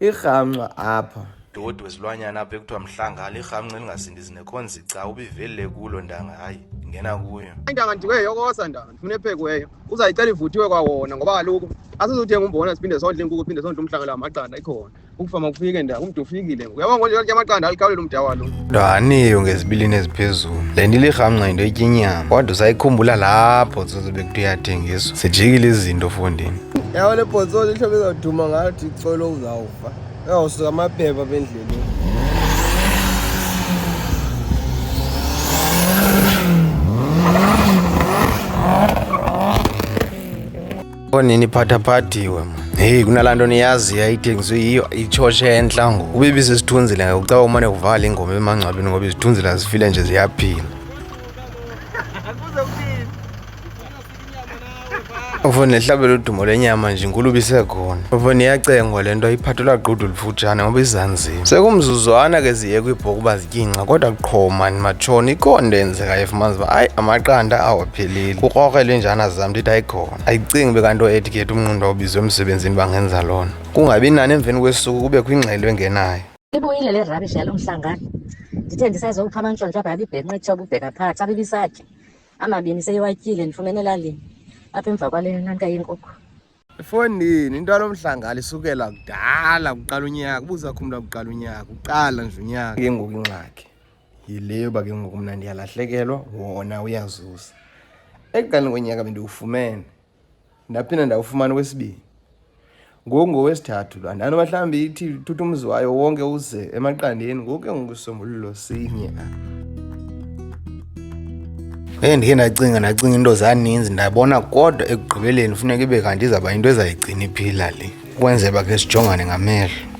irhamnqa apha dodi wezilwanyana apha ekuthiwa mhlanga lirhamnqa elingasindizi nekhonzi ca ubivelile kulo ntanga hayi ngena kuyo intanga ndiweyo kosa ntanga ndifuna ephekiweyo uzayicela ivuthiwe kwawona ngoba kaloku asizothenga umbona siphinde sondle inkukhu phinde sondle umhlanga la maqanda ikhona ukufama kufike nda umntu ufikile uyabona konje lake amaqanda alikhawulela umda walo ndaniyo ngezibilini eziphezulu le nto ilirhamnqa yinto etyinyama kodwa usayikhumbula lapho zozobe kuthi uyathengiswa zijikile izinto fondini yawo le bhontsolo ihlobo izawuduma ngathi icolo uzawufa uyawusuka amaphepha apha endleleni onini phathaphathiwe mna heyi kunalaa nto niyaziyo ayithengiswe yiyo itshotshe entla ngoku ube ibisisithunzile ngokucaba umane kuvala ingoma emangcwabeni ngoba izithunzile azifile nje ziyaphila Ufo nehlabela udumo lenyama nje inkulubi isekhona. Ufo niyacengwa le nto iphathelwa gqudu lifutshane ngoba izanzima. Sekumzuzwana ke ziye kwibhoku uba zityinxa kodwa qho mani matshoni ikhona into eyenzekayo efumanisa uba hayi amaqanda awapheleli. Kukrokre lenjana zam ndithi ayikhona. Ayicingi be kanto ethi ke umnqundu awubizwe emsebenzini bangenza lona. Kungabi nani emveni kwesuku kube kwingxelo engenayo. Ibuyile le rubbish yalo mhlangano. Ndithe ndisazowupha amantshontsho apha yabibhenqa itshoba ubheka phaa xa bibisatya. amabini seyiwatyile ndifumene elalini apha emva kwale nanka yenkukhu efondini into alomhlangala isukela kudala kuqala unyaka ubuza kho umntu akuqala unyaka uqala nje unyaka ke ngoku ingxaki yileyo uba ke ngoku mna ndiyalahlekelwa wona uyazuza ekuqaleni konyaka bendiwufumene ndaphinda ndawufumana okwesibini ngoku ngowesithathu laa ndani uba mhlawumbi ithi thutha umzi wayo wonke uze emaqandeni ngoku ke ngoku isombululo sinye Hey ndike ndacinga ndacinga into zaninzi ndabona kodwa ekugqibeleni funeka ibe kanti izawuba into ezayigcina iphila le ukwenzela uba ke sijongane ngamehlo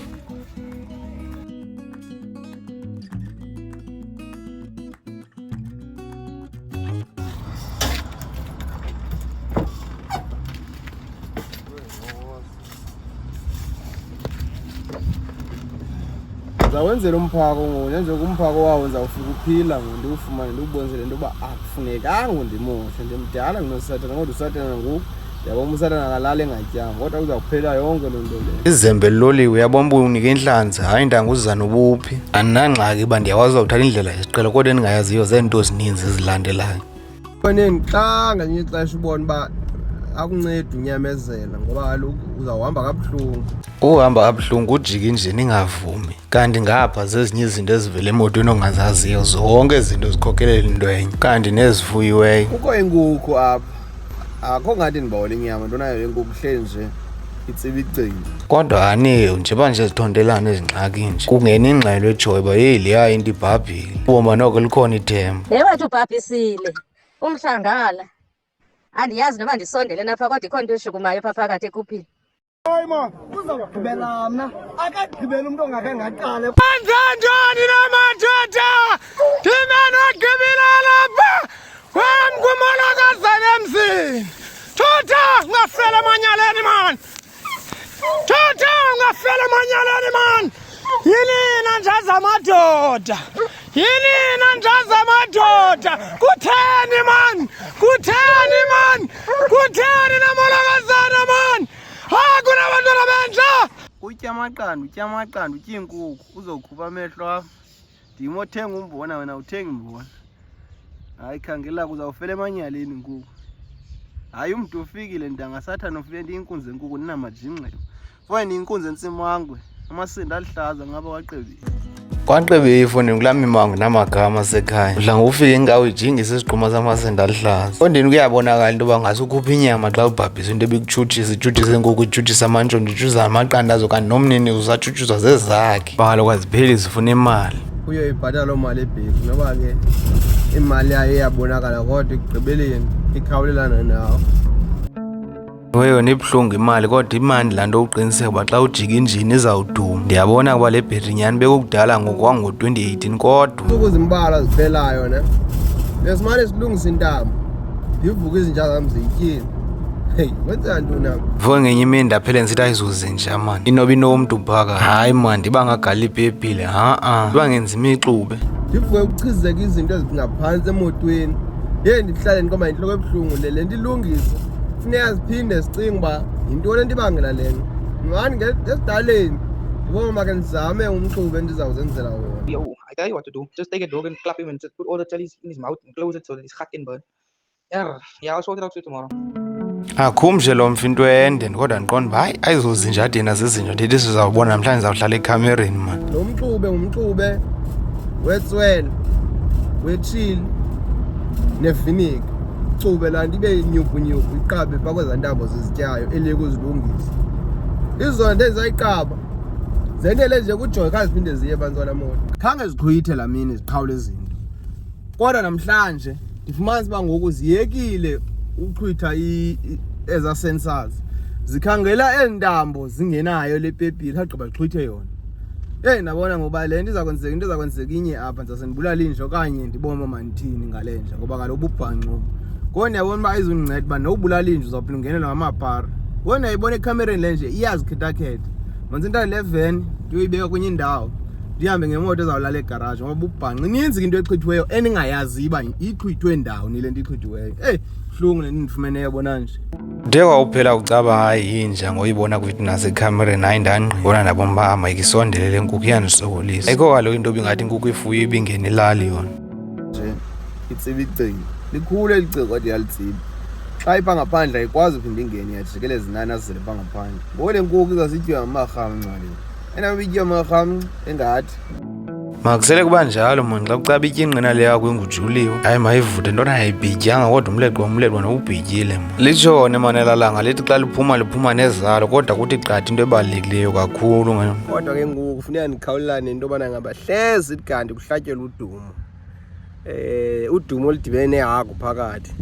zawenzela umphako ngoku njengoba umphako wawo ndizawufika uphila ngoku ndiwufumane ndiwubonise le nto yoba akufunekanga undimoshe ndimdala ndinosathana kodwa usathana ngoku yabo umsana nakalala engatyanga kodwa kuza kuphela yonke loo nto leyo izembe liloliwe uyabona uba unike intlanzi hayi ndanga uzizana ubuphi andinangxaki uba ndiyakwazi uzawuthatha indlela yesiqelo kodwa endingayaziyo zeento ezininzi ezilandelayo faneni xa ngelinye ixesha ubona uba akuncedi unyamezela ngoba kaloku uzawuhamba kabuhlungu uhamba kabuhlungu ujike nje ningavumi kanti ngapha zezinye izinto ezivela emotweni ongazaziyo zonke izinto zikhokelela into enye kanti nezifuyiweyo kukho inkukhu apha akho ngathi ndibawela inyama into nayo yenkuku kuhleli nje itsiba igcini kodwa aniyo njengoba nje zithontelana ezingxaki nje kungena ingxelo ejoyi uba yeyi leya into ibhabhile uboma noko likhona ithemba le wathi ubhabhisile umhlangala andiyazi noba ndisondele napha kodwa ikhona into eshukumayo pha phakathi ekuphini Hayi ma, uzawugqibela mna. Akagqibela umntu ongakhange aqale. Benze njani na madoda? Thina nogqibela lapha. Wam kumolokazana emzini. Thutha ungafela emanyaleni man. Thutha ungafela emanyaleni man. Yini na nje zamadoda? Yinina njaza madoda kutheni mani kutheni mani kutheni namolokazana mani ha kunabantwana benja utya amaqanda utya amaqanda utya iinkukhu uzokhupha amehlo am ndim othenga umbona wena uthengi mbona hayi khangela kuzawufela emanyaleni inkukhu hayi umntu ufikile ndangasathana ufike ndiyinkunzi enkukhu ndinamajingxelo Wena inkunzi entsimangwe, amasindi aluhlaza ngaba waqebile. Kwanqebe ifoni kulamimango namagama asekhaya. Udla ngokufika inkawu ijingisa isigquma samasenda aluhlaza. Ondini kuyabonakala into yoba ngase ukhupha inyama xa ubhabhisa into ebikutshutshisa itshutshisa inkukhu itshutshisa amantshontsho itshutshisa amaqanda azo kanti nomnini usatshutshuzwa zezakhe. Bhalo kwazipheli zifuna imali. Kuyo ibhatala loo mali ebheki noba ke imali yayo iyabonakala kodwa ekugqibeleni ikhawulelana nawo. Ewe yona ibuhlungu imali kodwa imandi laa nto uqiniseka uba xa ujika injini izawuduma ndiyabona kuba le bhetri nyhani bekukudala ngokwango-2018 kodwa ntsuku zimbalwa ziphelayo ne besimane silungisa intambo ndivuka izinja zam ziyityile heyi wenza ntoni am vuke ngenye imini ndaphele ndisithi ayizuze nja mani inoba inomntu phaka hayi mani ndiba ngagali ipepile ha-a ndiba ngenza imixube ndivuke kuchizeka izinto ezingaphansi emotweni ye ndihlale ndikoma yintloko ebuhlungu le le ndilungisa funeka siphinde sicinge uba yintoni ento ibangela le nto mani ngesidaleni ndiboma ke ndizame umxubi endizawuzenzela wona yo i tell you what to do just take a dog and clap him and just put all the jellies in his mouth and close it so that his heart can burn yeah yeah i'll sort it out for you tomorrow akhumshe lo mfi into ende kodwa ndiqonda uba hayi ayizozinja adini azizinja ndithi sizawubona namhlanje ndizawuhlala ekhamereni mani lo mxube ngumxube wetswele wetshili neviniki cube laa nto ibe yinyukunyuku iqabe phaa kwezaa ntambo zizityayo eliye kuzilungisa izona nto ezizayiqaba zendele nje kujoy kha ziphinde ziye bantwana moto khange ziqhuyithe laa mini ziqhawule izinto kodwa namhlanje ndifumanisa uba ngoku ziyekile uqhwitha ezaa sensors zikhangela ezi ntambo zingenayo le pepile khagqiba ziqhwithe yona Yeyi ndabona ngoba le nto iza kwenzeka into iza kwenzeka inye apha ndizase ndibulala inja okanye ndibone uba mandithini ngale nja ngoba kaloku ububhanco ngoku ndiyabona uba ayizundinceda uba nowubulala inja uzawuphinde ungenelwa ngamapara ngoku ndiyayibona ekhamereni le nje iyazikhethakhetha manzi intana le veni ndiyoyibeka kwenye indawo ndihambe ngemoto ezawulala egaraji ngoba ububhanqa ininzi into echithiweyo endingayazi uba ixhithwe ndawoni le nto ixhithiweyo eyi buhlungu le nto ndifumeneyo bona nje De wawuphela ucaba hayi yinja ngoyibona kwithu nasekhamereni hayi ndangqibona ndabona uba ama ikisondele le nkukhu iyandisokolisa ayikho kaloku into bingathi inkukhu ifuyo ibingena ilali yona nje itsiba icingo likhulu eli cingo kodwa iyalitsiba xa ipha ngaphandle ayikwazi uphinde ingene iyajikeleza inani azele pha ngaphandle ngoko le nkukhu izasityiwa ngamarhawu ncwaleni makusele kuba njalo moni xa kucaba ityingqina le yakho engujuliwe hayi mayivuthe into ayibhityanga kodwa umleqwa umleqwa nowubhityile mo litshone manelalanga lithi xa liphuma liphuma nezalo kodwa kuthi qatha into ebalulekileyo kakhulu kodwa ke ngoku kufuneka ndikhawulelane into yobana ngaba hlezi kanti kuhlatyelwa udumo um udumo oludibene nehagu phakathi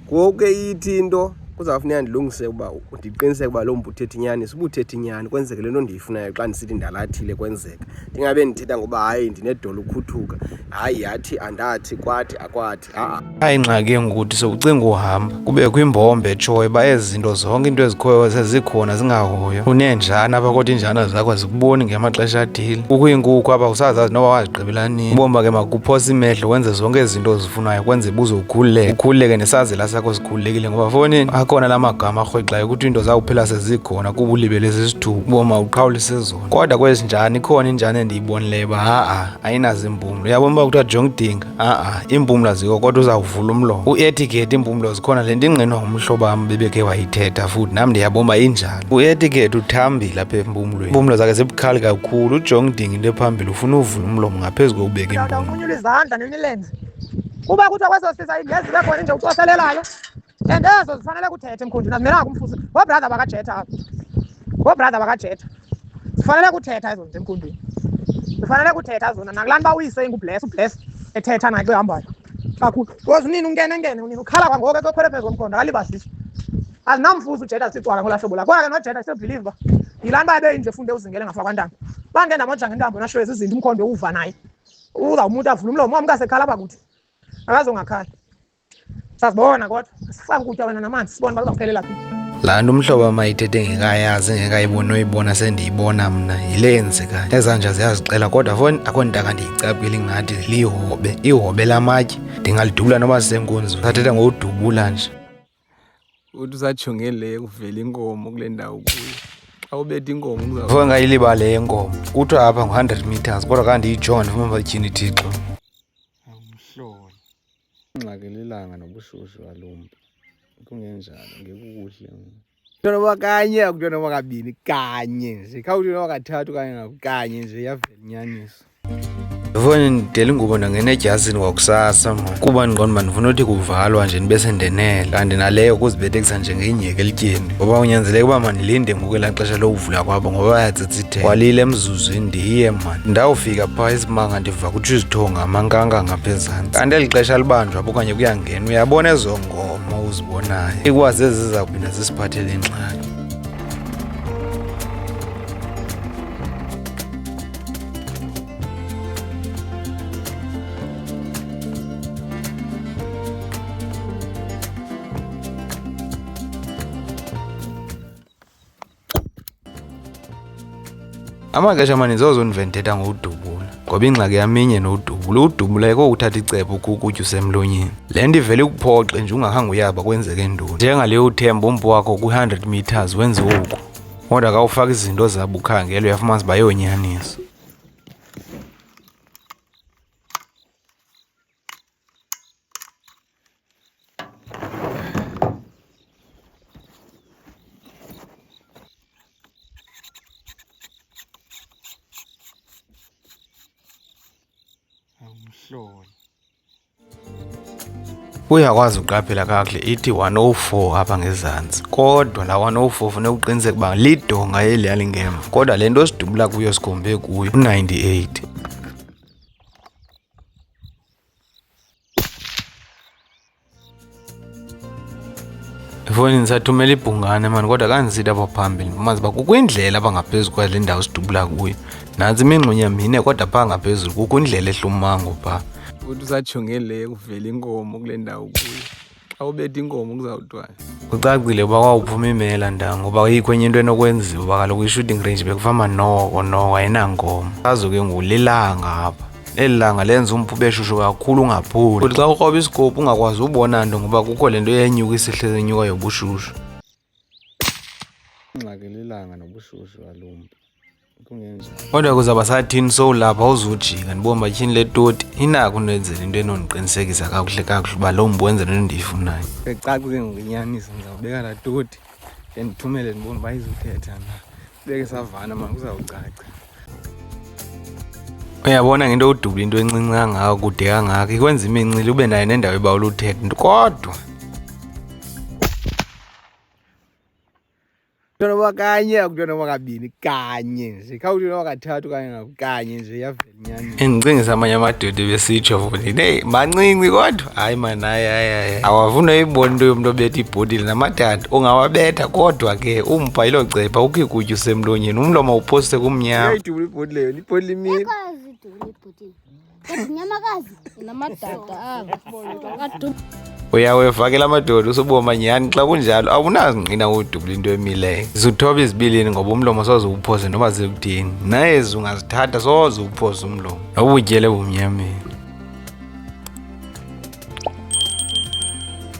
ngoku ithi into kuzawufuneka ndilungise uba ndiqiniseke uba loo mntu uthetha inyani sibuthetha inyani kwenzeke le nto ndiyifunayo xa ndisithi ndalathile kwenzeka ndingabe ndithetha ngoba hayi ndinedolo ukhuthuka hayi yathi andathi kwathi akwathi a-a ayingxaki engukuthi sowucinga uhamba kubekho imbombe etshoyo uba ezi zinto zonke into ezikhoyo sezikhona zingahoyo uneenjana apha kodwa iinjana zakho zikuboni ngemaxesha athile kukho iinkukhu apha usazazi noba wazigqibela nini ubomba ke makuphosa imehlo wenze zonke ezi zinto ufunayo kwenze buze ukhululeke ukhululeke nesazela sakho sikhululekile ngoba fonini akhona la magama arhwexayo ukuthi into zawuphela sezikhona kuba ulibele zesithuba uboma uqhawulise zona kodwa kwezinjani ikhona injani endiyibonileyo uba ha-a ayinazo iimpumlo uyabona uba kuthiwa jonga udinga ha-a iimpumlo azikho kodwa uzawuvula umlomo uetiketi iimpumlo zikhona le nto ingqinwa ngumhlobo wam bebekhe wayithetha futhi nam ndiyaboma injani uetiketi uthambile apha empumlweni impumlo zakhe zibukhali kakhulu ujonga udinga into ephambili ufuna uvula umlomo ngaphezu kokubeka impumlo lenze kuba kuthiwa kweso sisa ingezi ibe khona inje ucoselelayo and ezo zifanele kuthethe mkhundini azimelanga kumfuzi ngoobrother bakajetha apho ngoobrother bakajetha zifanele kuthetha ezo nto emkhundini zifanele kuthetha zona nakulaa nto bawuyise ingubless ubless ethetha naye xa ehambayo kakhulu because unini ungene ngene unini ukhala kwangoko ekekhwele phezu komkhondo akalibaziswa azinamfuzi ujetha sicwaka ngolaa hlobo la kodwa ke nojeta sebhilive uba yilaa nto bayebeyinje funde uzingele ngafakwantanga bangena mojangentambo nashwezi izinto umkhondo uwuva naye uzawumuthi avule umlomo wam kasekhala apha kuthi akazongakhali sazibona kodwa sifake ukutya wena namanzi sibone uba kuzawuphelela phi laa nto umhlobo wam ayithethe engekayazi engekayiboni oyibona sendiyibona mna yile yenzekayo ezanja ziyazixela kodwa fo akho ntaka ndiyicapile ingathi lihobe ihobe lamatye ndingalidubula noba sisenkunzi sathetha ngokudubula nje uthi usajonge le kuvela inkomo kule ndawo kuyo xa ubetha inkomo ngifike ngayilibale yenkomo kuthiwa apha ngu-hundred meters kodwa kandiyijon ndifuna batyhini thixo awumhlolo ingxakelelanga nobushushu balumntu kungenjalo ngekukuhle kuthiwa noba kanye akuthiwa noba kabini kanye nje khawuthiwa noba kathathu kanye ngakukanye nje yavela inyaniso ndifuna ndidela ingubo ndangena edyazini kwakusasa mna kuba ndiqonda uba ndifuna uthi kuvalwa nje ndibe sendenela kanti naleyo kuzibethekisa njengenyheke elityeni ngoba unyanzeleke uba mandilinde ngoku elaa xesha lokuvula kwabo ngoba bayatsitsithela walile emzuzwini ndiye mani ndawufika phaa isimanga ndiva kutsho izithonga amankanga ngapha ezantsi kanti eli xesha libanjwa apho okanye kuyangena uyabona ezo ngoma uzibonayo ikwazi eziza kuphinda zisiphathele ingxaki amaxesha amaninzi zozo ndivendithetha ngowudubula ngoba ingxaki yaminye nowudubula uwudubula ekokuthatha icebo kukutya usemlonyeni le nto ivele ikuphoxe nje ungakhange uyaba kwenzeke ntoni njengaleyo uthemba umpu wakho kwi-100 meters wenze oku Kodwa ka ufaka izinto zabo ukhangela uyafumanisa uba yonyaniso. Awumhlolo. uyakwazi uqaphela kakuhle ithi 104 apha ngezantsi kodwa la 104 funeka uqiniseke uba lidonga eli yalingemva kodwa le nto sidubula kuyo sikhombe kuyo u-98 efowunini sathumela ibhungane mani kodwa kanzida apha phambili mazi uba kukho indlela apha ngaphezu kwale ndawo sidubula kuyo nantsi imingxunya mine kodwa phaa ngaphezulu kukho indlela ehlumango phaa uthi usajongele kuvela inkomo kule ndawo kuyo xa ubetha inkomo kuzawutwana kucacile uba kwawuphuma imela nda ngoba ayikho enye into enokwenziwa uba kaloku i-shooting range bekufama noko noko ayinankomo azo ke ngoku lilanga apha eli langa lenza umphube eshushu kakhulu ungaphuli kuthi xa ukroba isikophu ungakwazi ubona nto ngoba kukho le nto eyenyuka isihlezi enyuka yobushushu ingxaki lilanga nobushushu alumbi kodwa kuzaba sathini sowulapha uzujika ndibona batyhini le toti inako undenzela into enondiqinisekisa kakuhle kakuhle uba loo mntu wenzela into endiyifunayo ecaku ke ngokunyaniso ndizawubeka la toti ndendithumele ndibona uba izuthetha na beke savana mani kuzawucaca uyabona ngento udubula into encinci kangaka kude kangaka ikwenza imincili ube nayo nendawo ebawula uthetha kodwa kuthiwa noma kanye akuthiwa noma kabini kanye nje khawuthiwa noma kathathu kanye ngakukanye nje yavela endicingisa amanye amadoda ebesitsho futhi neyi mancinci kodwa hayi mani hayi hayi hayi awafuna uyibona into yomntu obetha ibhotile namadada ungawabetha kodwa ke umbha yilo cepha ukho ikutya usemlonyeni umlomo uphoste kumnyama ibhotile yona ibhotile imile nyamakazi uyawevakela amadoda usuboma nyhani xa kunjalo awunazingqina udubula into emileyo zuthoba izibilini ngoba umlomo soze uwuphose noba zikuthini naye zungazithatha soze uwuphose umlomo awubutyele bumnyameni